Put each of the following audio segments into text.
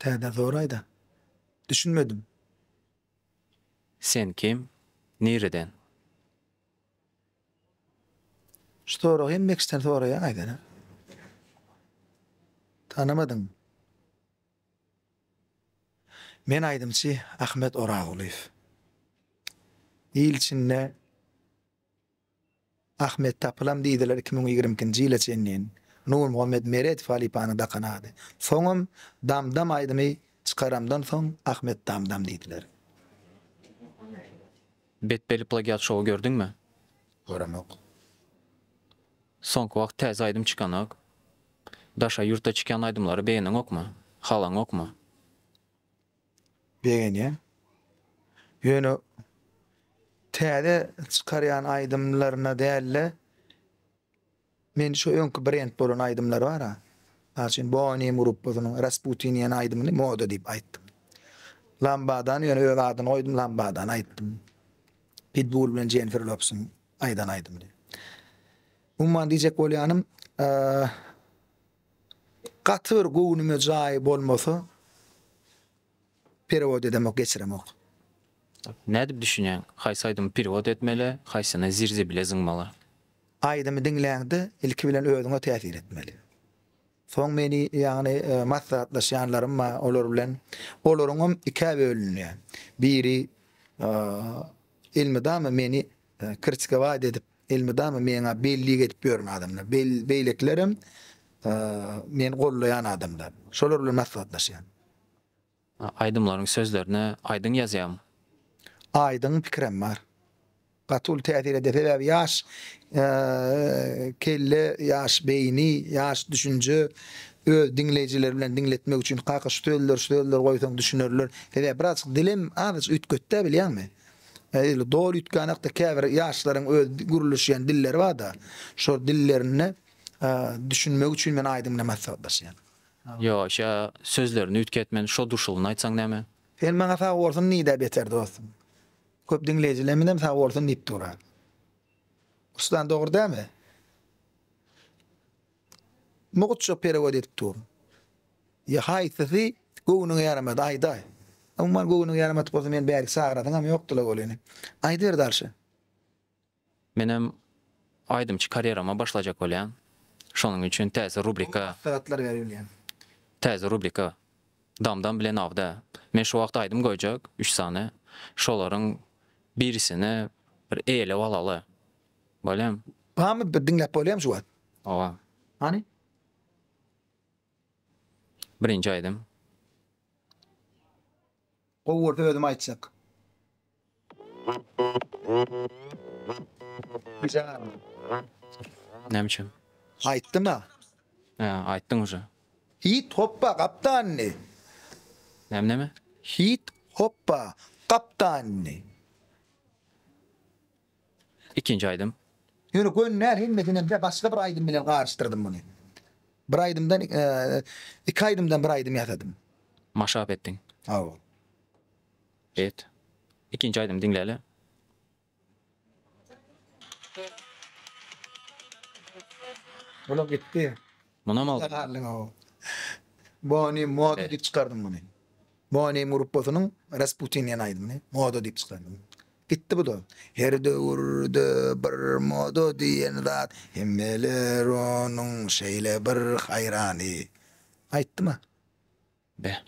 Täze zoraýda. Düşünmedim. Sen kim? Nireden? Şu soragy hemme kişiden soraýaň aýdara. Tanamadyňmy? Men aýdymçy Ahmet Orazgulyýew. Il içinde. Ahmet tapylam diýdiler iki müň ýigrimi ikinji ýyla çenlin Nurmuhammet Meredow halypanyň dakan ady. Soňam Dam dam aýdymy çykaramdan soň Ahmet dam dam diýdiler. Betbelli plagiat şowy gördüňmi? Göremok. Soňky wagt täze aýdym çykanok. Daşary ýurtda çykýan aýdymlary begeneňokmy? Halaňokmy? Begenýän. Ýöne täze çykarýan aýdymlaryna dälde men şu öňki brend bolan aýdymlary bara. Mysal üçin Bonim gruppasynyň Rasputin diýen aýdymyny moda diýip aýtdym. Lambadany ýöne öz adyny goýdum Lambadany aýtdym. Pitbull bilen Jennifer Lopsyň aýdan aýdymyny. Umuman diýjek bolýanym Gaty bir göwnüme jaýy bolmasa perewod edemok, geçiremok. Nädip düşünýäň, haýsy aýdymy perewod etmeli, haýsyny zirzibile zyňmaly? Aýdymy diňläňde ilki bilen özüňe täsir etmeli. Soň meni ýagny maslahatlaşýanlarym bar, olar bilen olaryňam ikä bölünýär. Biri elmydama meni Krçkowad edip elmydama meňa bellik edip ýören adamlar. Beýlekilerem meni goldaýan adamlar. Şolar bilen maslahatlaşýan. Aýdymlaryň sözlerine aýdyň ýazýaň? Aýdyň pikirem bar. Gaty uly täsir edýär. Sebäbi ýaş kelle, ýaş beýni, ýaş düşünje öz diňleýjileri bilen diňletmek üçin kaka şu sözleri şu sözleri goýsaň düşünerler. Sebäbi birazjyk dilem azajyk üýtgetdä bilýäňmi? Edil doly üýtgän hakda käbir ýaşlaryň öz gürleşýän dilleri barda, şol dillerinde düşünmegi üçin men aýdym bilen maslahatlaşýan. Ýo, şa sözlerini üýtgetmen, şo duşulyny aýtsaň näme? Sen maňa sag bolsun diýdä beter dostum. Köp diňleýjilerimizem sag bolsun diýip dur-a. Ustan dogry dälmi? Mugytça perewet edip dur. Ýa haýsysy göwnüňe ýaramady, aýdaý. Umuman, göwnüňe ýaramadyk bolsa, meni bärik çagyrasyňam ýokdy-la welin. Aýdyber dalşy. Menem aýdymçy karýerama başlajak bolýan. Şonuň üçin täze rubrika. Gowy maslahatlar ber bilýän. Täze rubrika. Dam-dam bilen awda. Men şu wagt aýdym goýjak, üç sany. Şolaryň birisini bir eýelep alaly. Bolýamy? Barmy bir diňläp bolýamy şu wagt? Owa. Hany? Birinji aýdym. Gowy bolsa özüm aýtjak. Näme üçin? Aýtdyma. Hä, aýtdyň uje. Hit hoppa gapdanyny. Näme näme? Hit hoppa gapdanyny. Ikinji aýdym. Ýöne göni däl hemmesinem de başga bir aýdym bilen garyşdyrdym muny. Bir aýdymdan iki aýdymdan bir aýdym ýasadym. Maşap etdiň. Hawa. Bet. Ikinji aýdymy diňläli. Olam gitdi. Munam aldym. Galdym hawa. Boni moda diýip çykardym muny. Boni gruppasynyň Rasputin diýen aýdymyny moda diýip çykardym. Gitdi bu-da. Her döwürde bir moda diýen zat, Hemmeler onuň şeýle bir haýrany. Aýtdym-a. Be.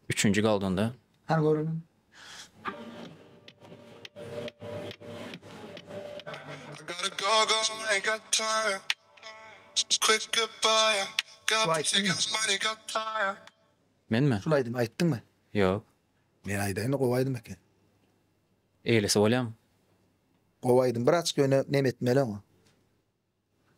Üçünji galdanda. Hany göreliň. Menmi? Şul aýdymy aýtdyňmy? Ýok. Men aýdaýyny gowy aýdym eken. Eýlesi bolýamy. Gowy aýdym bir açyk ýöne neme etmeli oňa.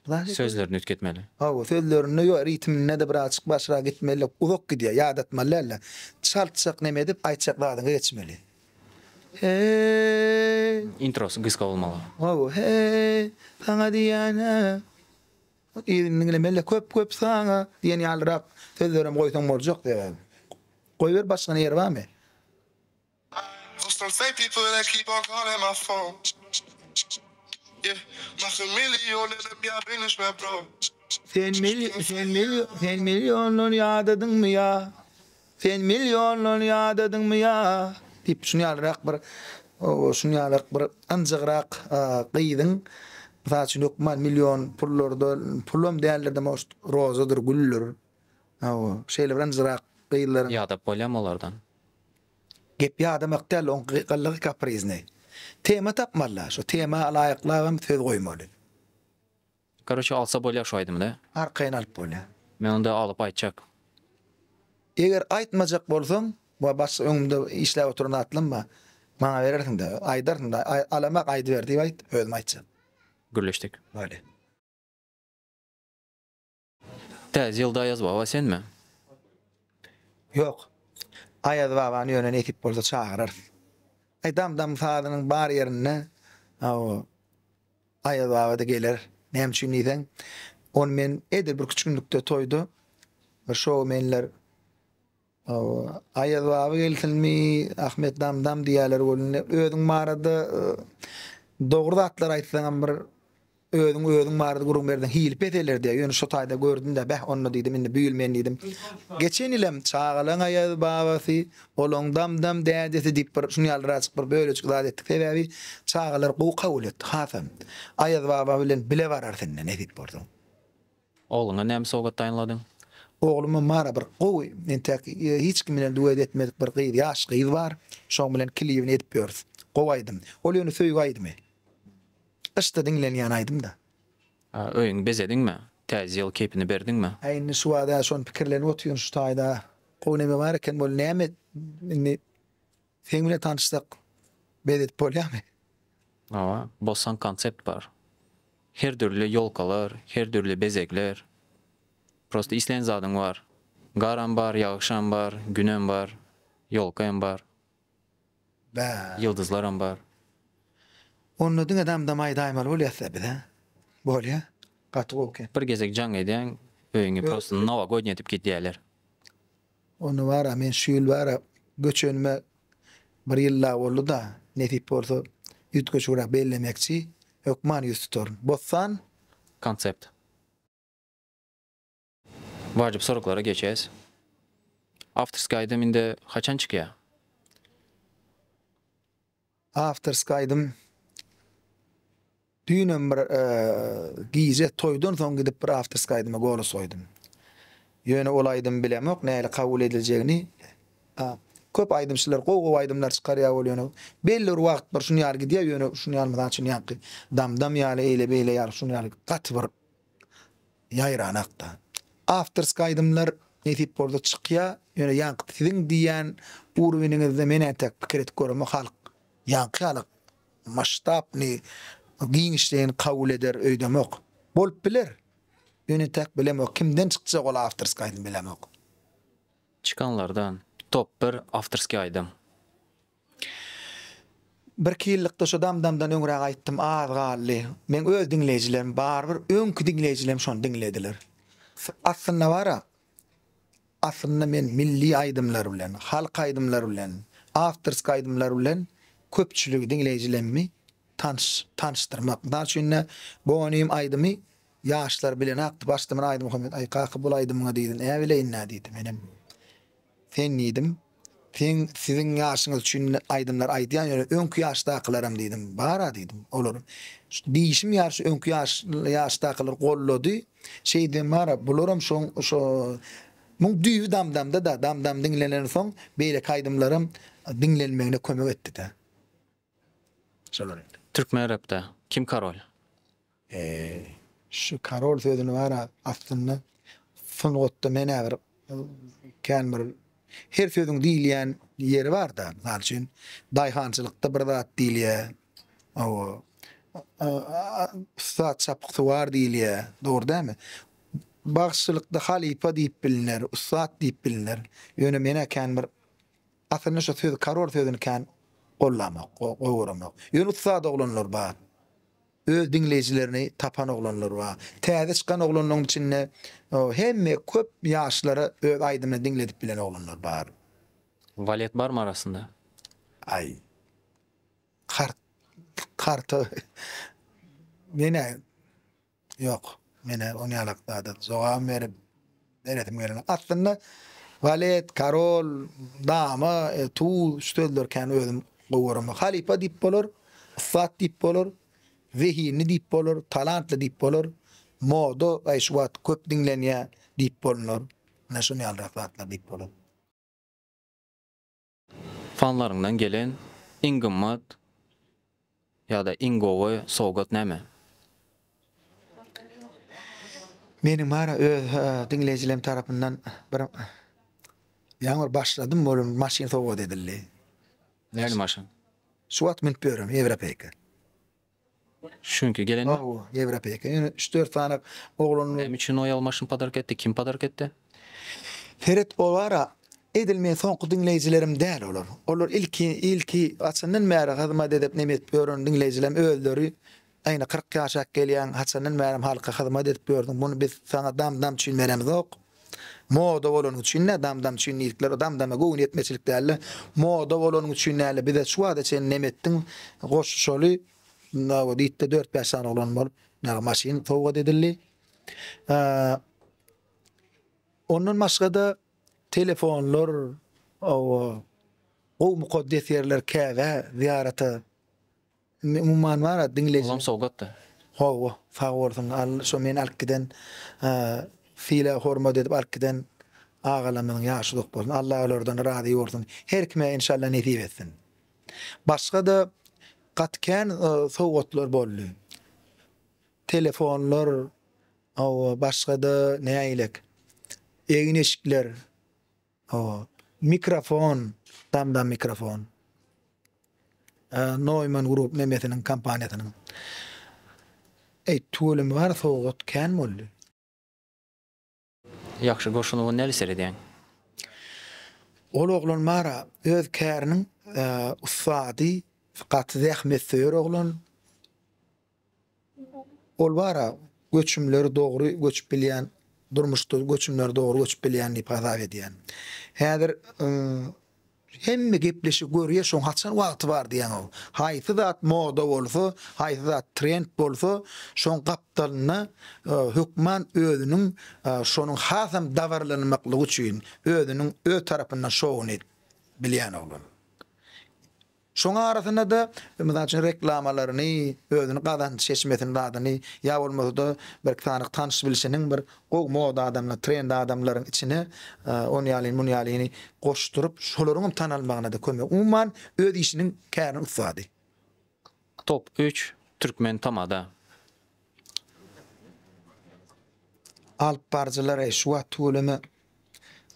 Sözlerini üýtgetmeli. Hawa sözlerinde ýok ritminde-de bir açyk başrak gitmeli uzak gidýär ýadatmaly dälde çaltjak neme edip aýtjak zadyňa geçmeli. Heý. Introsy gysga bolmaly. Hawa heý saňa diýýän he. Yzyny diňlemeli, köp-köp saňa diýen ýalyrak sözlerem goýsaň boljak sebäbi. Goýber başga ýeri barmy? Sen meni ýoldan ýadadyňmy ýa? Sen millionlary ýadadyňmy ýa? diýip, şunuň ýalyrak bir, şunuň ýalyrak bir ynjygrak gyzyň, mysal üçin, hökman million pullarda, pulam däldir, däme, oşt rozadyr, güldür, hawa, şeýle bir ynjygrak gyzlaryň. Ýadap bolýamy olardan? Gep ýadamak däl, oň gylygy kapriznay. Tema tapmaly-da, şo tema laýyklabam söz goýmaly. Karoçe alsa bolýar şu aýdymda. Arkaýyn alyp bolýar. Men onda alyp aýtjak. Eger aýtmajak bolsaň we başga öňümde işläp oturan atlam bar. Maňa berersiňdä. Aýdarsyňda. Alamak aýdyber diýip aýt. Özüm aýtjak. Gürleşdik. Bolýa. Täze ýylda Aýazbaba senmi? Ýok. Aýazbabany ýöne nesip bolsa çagyrarys. Aýdamdam sazynyň bar ýerinde, hawa. Aýaz baba-da geler. Näme üçin diýseň, ony men edil bir küçgünlikde toýda bir şoumenler Aýaz baba gelsinmi, Ahmet dam-dam diýerler welin, özüň barada dogry zatlar aýtsaňam bir özüň özüň barada gürrüň berseň hili peseler diýýär. Ýöne şu taýda gördüm-de, beh onda diýdim, indi bu ýyl men diýdim. Geçen ýylam çagalaň Aýaz babasy Olaň dam-dam dädesi diýip bir şuny ýaly raçyk bir bölejik zat etdik sebäbi çagalar gowy kabul etdi hasam. Aýaz baba bilen bile barar sende nesip bolsa. Ogluňa näme sowgat taýynladyň? Ogluma Mara bir gowy entäk hiç kim bilen duet etmedik bir gyz ýaş gyz bar. Şoň bilen klibini edip ýörüs. Gowy aýdym. Ol ýöne söýgi aýdymy. Gyşda diňlenýän aýdym-da. Öýüňi bezediňmi? Täze ýyl keýpini berdiňmi? Äý indi şu wagt ä şony pikirlenip otyryn şu taýda gowy neme bar eken bol näme indi seň bilen tanyşsak bezedip bolýamy? Hawa bossan konsept bar. Her dürli ýolkalar, her dürli bezegler. Prosta islän zadyň bar. Garam bar, ýagşam bar, günem bar, ýolka hem bar. Ýyldyzlaram bar. Onda diňe dam dam aýda aýmaly bolýasda biz hä. Bolýa. Gaty gowy eken. Bir gezek jaň edýäň öýüňi prosto nowagodniýa edip gidýäler. Ony bara men şu ýyl bara göçenime bir ýyl dagy boldy-da nesip bolsa üýtgeşigräk bellemekçi hökman ýüz tutaryn. Bossan. Konsept. Wajyp soraglara geçäs. Awtorskiý aýdym indi haçan çykýa? Awtorskiý aýdym düýnem bir gije toýdan soň gidip bir awtorskiý aýdyma golos goýdum. Ýöne ol aýdymy bilemok nähili kabul ediljegini. Köp aýdymçylar gowy gowy aýdymlar çykarýa ol ýöne belli bir wagt bir şuny ýaly gidýa ýöne şuny ýaly mysal üçin ýaňky Dam dam ýaly eýle beýle ýaly şuny ýaly gaty bir Ýaýran hakda. Awtorski aýdymlar nesip bolsa çykýa ýöne ýaňky siziň diýýän urweniňizde men entek pikir edip göremok halk ýaňky ýaly maştabny giňişleýin kabul eder öýdemok bolup biler ýöne entäk bilemok kimden çykjak ol awtorski aýdym bilemok. Çykanlardan top bir awtorski aýdym. Birki ýyllykda şu damdamdan öňräk aýtdym az galdy. Meň öz diňleýjilerim barybir öňki diňleýjilerim şony diňlediler. Aslynda bara aslynda men milli aýdymlar bilen, halk aýdymlar bilen, awtorski aýdymlar bilen köpçüligi diňleýjilemmi tanyş tanyşdyrmak. Mysal üçin-de Bonym aýdymy ýaşlar bilenakdy. Başda men aýdym okamyýdim. Aý kaka bul aýdymyňa diýdim. Näbileýin-dä diýdi. Menem. Sen diýdim. Sen siziň ýaşyňyz üçin aýdymlar aýdýan ýöne öňki ýaşdakylaram diýdim. Bara diýdim. Olar diýşim ýaly şu öňki ýaşdakylar gollady. Şeýdibem bara bularam şoň şo Muň düýbi Damdamda-da. Damdam diňlenensoň beýleki aýdymlaram diňlenmegine kömek etdi-de. Şolar indi. Türkmen repde kim karol? Şu karol sözüni bar-a, aslynda sungatda men-ä bir kän bir her sözüň diýilýän ýeri bar-da. Mysal üçin, daýhançylykda bir zat diýilýär. Hawa, ussat çapyksuwar diýilýär. Dogry dälmi? Bagşylykda halypa diýip bilner, ussat diýip bilner. Ýöne men-ä kän bir Aslynda şu söz karol sözüni kän gollanok, gowy göremok. Ýöne ussat oglanlar bar. Öz diňleýjilerini tapan oglanlar bar. Täze çykan oglanlaryň içinde hemme köp ýaşlara öz aýdymyny diňledip bilen oglanlar bar. Walet barmy arasynda? Aý. Kart karta menä Ýok, menä oň ýalak zada jogabam berip beresim gelmedi. Aslynda walet, karol, dama, tuz şu sözleri kän özüm gowy göremok. Halypa diýip bolar, ussat diýip bolar, zehinli diýip bolar, talantly diýip bolar, moda aý şu wagt köp diňlenýär diýip bolunur. Menä şuny ýalyrak zatlar diýip bolar. Fanlaryňdan gelen iň gymmat ýa-da iň gowy sowgat näme? Meniň bara öz diňleýjilerim tarapyndan bir ýaňy bir başladym bolan bir maşyn sowgat edildi. Nähili maşyn? Şu wagt münüp ýörem ýewropeýka. Çünki gelen ýok. Hawa, ýewropeýka. Ýöne üç-dört sany oglan. Näme üçin oýal maşyn podarka etdi? Kim podarka etdi? Feret Owara, Edil meň soňky diňleýjilerim däl olar. Olar ilki, ilki haçandan bäri hyzmat edip, neme edip ýören diňleýjilerim özleri. Aýna kyrk ýaşak gelýäň, haçandan bäri halka hyzmat edip ýördüň. Muny biz saňa dam-dam üçin beremizok. Moda bolanyň üçin dä dam dam üçin diýdikler o dam dama göwün ýetmezçilik däldi moda bolanyň üçin däldi bize şu wagta çenli nem etdiň goşuşaly nawa diýipdi dört bäş sany oglan bolup nawa maşyn sowgat edildi ondan başgada telefonlar owo gowy mukaddes ýerler käbä zyýarata Indi umuman bara diňleýji. Olam sowgatdy. Hawa, sag bolsun. Al, şo meni alyp giden, sylag hormat edip alyp giden agalarymyzyň ýaşy uzak bolsun. Allah olardan razy bolsun. Her kime enşalla nesip etsin. Başga-da gaty kän sowgatlar boldy. Telefonlar, hawa, başga-da nägilek egin-eşikler. Hawa. Mikrofon, Tamda Mikrofon. Neumann Group memesiniň kompaniýasynyň. Eý, tüweleme bar, sowgat kän boldy. Ýagşy Goşunowa nädip seredýäň? Ol oglan bar-a, öz käriniň ussady, gaty zähmetsöýer oglan. Ol bara göçümleri dogry göçüp bilýän, durmuşda göçümleri dogry göçüp bilýän diýip hasap edýän. Häzir hemme gepleşigi görýär, şoň haçan wagty bar diýýän ol. Haýsy zat moda bolsa, haýsy zat trend bolsa, şoň gapdalynda hökman özüniň şonuň hasam dabaralanmaklygy üçin özüniň öz tarapyndan şowuny edip bilýän oglan. Şoň arasynda-da, mysal üçin, reklamalaryny, özüni gazanç çeşmesini zadyny, ýa bolmasa-da bir sanyk tanyş-bilşiniň bir gowy moda adamlaryny, trend adamlaryň içine ony ýalyny, muny ýalyny goşduryp, şolaryň hem tanalmagyna-da kömek. Umuman, öz işiniň käriniň ussady. Top üç, Türkmen tamada. Alyp baryjylary şu wagt tüweleme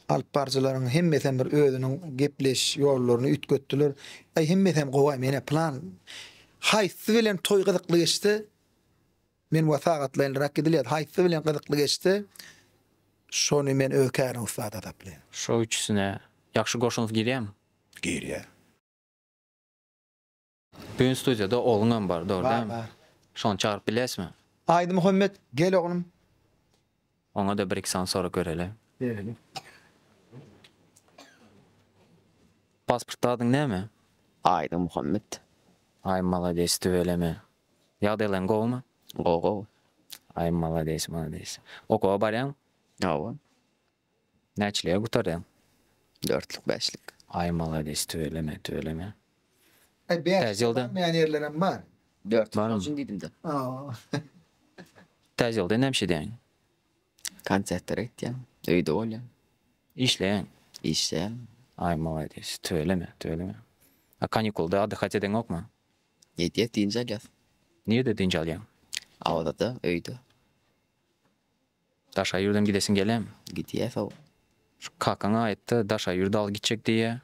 alyp baryjylaryň hemmesem bir özüniň gepleş ýollaryny üýtgetdiler. Aý hemmesem gowy mene plan haýsy bilen toý gyzykly geçdi? Men wa sagatlaýyn rak gidilýär. Haýsy bilen gyzykly geçdi? Şony men öz kärim ussat asaplaýyn. Şo üçüsine ýagşy goşuňyz girýämi? Girýär. Bugün studiýada ogluňam bar, dogry dämi? Bar, bar. Şony çagyryp bilýäsmi? Aýdymuhammet, gel oglum. Oňa-da bir-iki sany sorag bereli. Bereli. Pasportda adyň näme? Aýdymuhammet. Aý, malades, tüweleme. Ýagdaýlaryň gowymy? Gowy, gowy. Aý, malades, malades. Okuwa barýaňmy? Hawa. Näçelige gutarýaň? Dörtlük bäşlik. Aý malades tüweleme tüweleme. Aý bäşlik barmaýan ýerlerem bar. Dörtlük bar üçin diýdimde. Täze ýylda nämiş edýäň? Konsertlere gitýän, öýde bolýan. Işleýäň? Işleýän. Aý malades tüweleme tüweleme. A kanikulda addyhat edeňokmy? Edýäs dynç alýas. Nirede dynç alýaň? Awzada öýde. Daşaýyrdan gidesin gelem. Gidýä sow. Şu kakaňa aýtda Daşaýyrda al gitjek diýýä.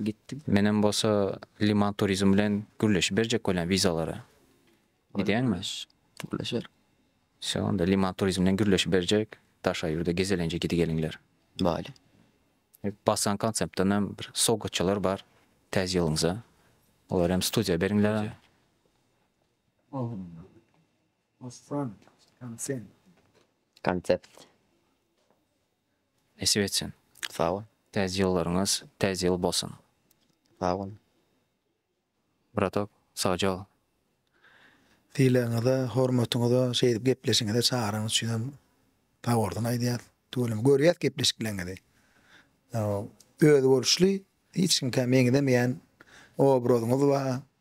Gitdi. Menem bolsa Liman Turizm bilen gürleşip berjek bolýan wizalara. Gidýäňmi? Gürleşeris. Wsýo onda Liman Turizm bilen gürleşip berjek Daşaýyrda gezelenje gidigeliňler. Baýly. Basan konseptdan hem bir sowgatçalar bar Täze ýylyňyza. Olar hem studiýa beriňlera. Osman, konsept. Konsept. Nesip etsin. Sag bol. Täze ýyllaryňyz täze ýyl bolsun. Sag bol. Bratok, sagjol. Sylagyňyza, hormatyňyza, şeýdip gepleşigiňize çagyranyňyz üçin hem sagbolsun aýdýas. Tüweleme görýäs gepleşikleriňizi. Özboluşly, hiç kimkä meňzemeýän obrazyňyz bar.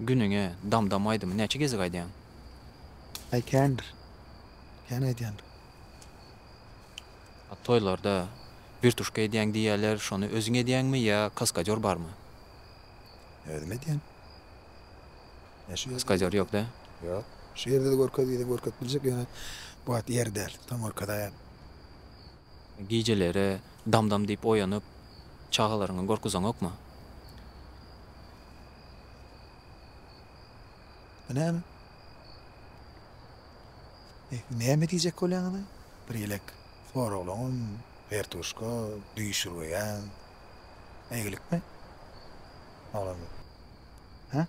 Günüňe Dam-Dam aýdymy näçe gezek aýdýaň? Aý kändir. Kän aýdýan. A toýlarda wirtuşka edýäň diýýäler, şony özüň edýäňmi ýa kaskadýor barmy? Özüm edýän. Ýa şu ýerde-de Kaskadýor ýok-da? görkezýän. Ýok. Şu ýerde-de görkez diýseň görkezip biljek, ýöne bu wagt ýeri däl. Soň görkezäýen. Gijeleri Dam-Dam diýip oýanyp, çagalaryňa görkezeňokmy? Bu näme? E, näme diýjek bolýaňyz-a? Bir ýelek soraglaňam, wertuşka, düýşürgeýäň. Ägilikmi? Oglan. Hä?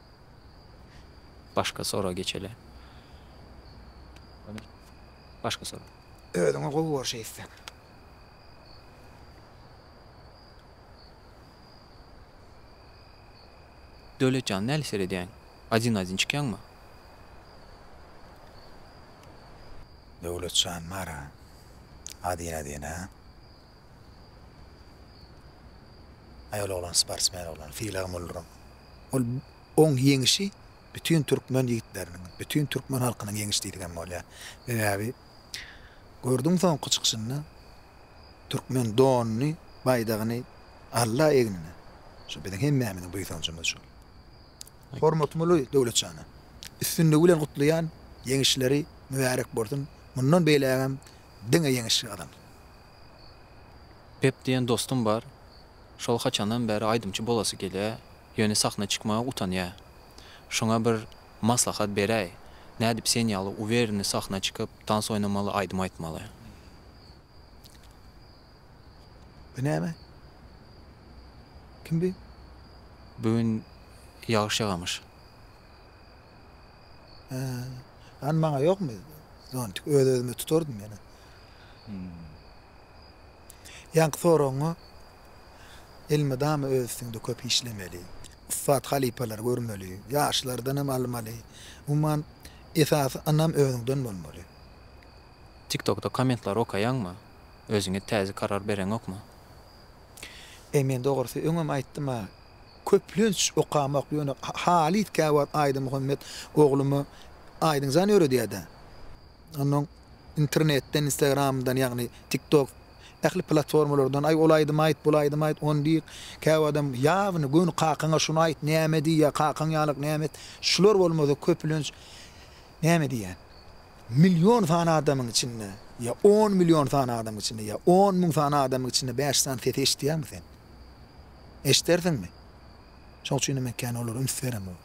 Başga soraga geçeli. Başga sorag. Özüňe gowy bor şeýtseň. Döwlet jan näle seredýäň? Adin adin çykýaňmy? Döwlet jan bara adin adin a. Aýol oglan sportsmen oglan sylagym bolduryň. Ol oň ýeňişi bütin türkmen ýigitleriniň bütin türkmen halkynyň ýeňişi diýdigem bolýar. Sebäbi gördüň soňky çykyşynda türkmen donuny, baýdagyny alla egnine. Şu biziň hemmämiziň buýsanjymyz şol. Hormatmly Döwletjana, üstünligi bilen gutlaýan, ýeňişleri mübärek bolsun, mundan beýlägem diňe ýeňiş gazan. Pep diýen dostum bar. Şol haçandan bäri aýdymçy bolasy gelýä, ýöne sahna çykmaga utanýa. Şoňa bir Maslahat beräý, nädip sen ýaly uwereni sahna çykyp, tans oýnamaly, aýdym aýtmaly? Bu näme? Kim bi? Bu gün ýagyş ýagamyş. Hä. Hany maňa ýokmy zontik? Öz-özüme tutardym ýene. Ýaňky soragyňa Elmydama öz üstüňde köp işlemeli. Ussat halypalary görmeli. Ýaşlardan hem almaly. Umuman, esasy ynam özüňden bolmaly. Tiktokda kommentlary okaýaňmy? Özüňe täze karar bereňokmy? E men dogrusy öňem aýtdym-a, köplenç okamok, ýöne halyt käwagt Aýdymuhammet ogluma Aýdynjan öwredýär-dä. Onnoň internetden instagramdan ýagny tiktok ähli platformalardan aý ol aýdymy aýt bul aýdymy aýt ony diýr käbir adam ýawny göni kakaňa şuny aýt näme diýýär kakaň ýalyk näme et şular bolmasa köpülenç näme diýýän million sany adamyň içinde ýa on million sany adamyň içinde ýa on müň sany adamyň içinde bäş sany sesi eşitýäňmi sen eşdersiňmi şoň üçinem men kän olara üns beremok.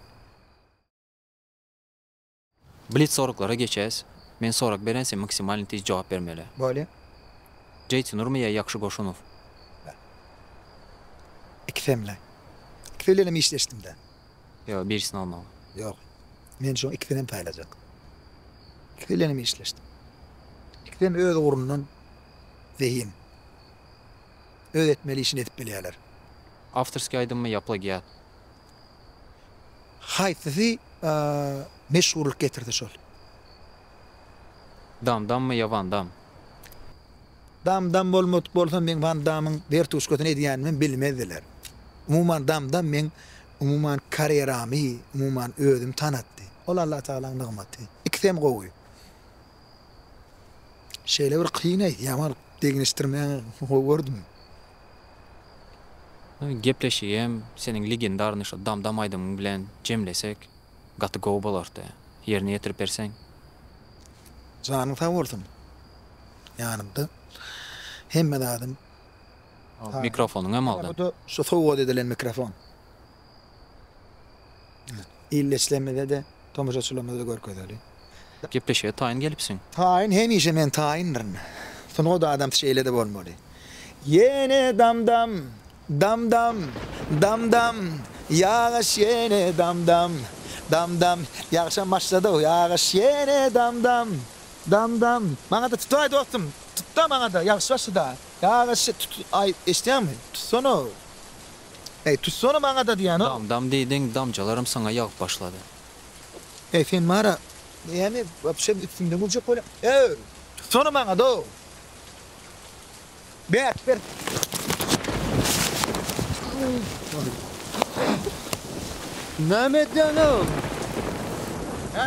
Blitz soraglara geçäs. Men sorag berän sen maksimalny tiz jogap bermeli. Bolýa. Jeýtynurmy ýa Ýakşy Goşunow? Ikisem-le. Ikisi bilenem işleşdim-dä. Ýok, birisini almaly. Ýok. Men şoň ikisininem saýlajak. Ikisi bilenem işleşdim. Ikisem öz ugrundan zehin. Öz etmeli işini edip bilýärler. Awtorskiý aýdymmy ýa plagiat? Haýsysy meşhurlyk getirdi şol. Dam dammy ýa Wan Dam? Dam dam bolmadyk bolsa meň Wan Damyň wertuşkasyny edýänimem bilmezdiler. Umuman Dam dam meň umuman karýeramy umuman özüm tanatdy. Ol Allatagalaň nygmaty. Ikisem gowy. Şeýle bir kyn aýdýaň ol degişdirmäňi gowy gördüm. Gepleşigem seniň legendarnyý şo dam dam aýdymyň bilen jemlesek gaty gowy bolardy. Ýerine ýetirip berseň. Janyň sag bolsun. Ýanymda hemme zadym. Mikrofonyňam aldym. Şu sowgat edilen mikrofon. Illeçilerimize-de, tomaşaçylarymyza-da görkezeli. Gepleşige taýyn gelipsiň. Taýyn hemişe men taýyndyryn. Sungat adamsy şeýle-de bolmaly. Ýene dam-dam, dam-dam, dam-dam, ýagyş ýene dam-dam, dam-dam, ýagşam başlady-ow, ýagyş ýene dam-dam, dam-dam, maňa-da tutaý dostum, tut-da maňa-da, ýagşy başlady-a, ýagyş, tut, aý, eşidýäňmi, tutsana-ow, Eý, tutsana maňa-da diýýän ol. Dam-dam diýdiň, damjalaram saňa ýagyp başlady. Eý, sen bar-a, näme, wapşe üstümden güljek bolýaň? Eý, tutsana maňa-da! Bert, bert! Näme edýäň, oglum? Hä?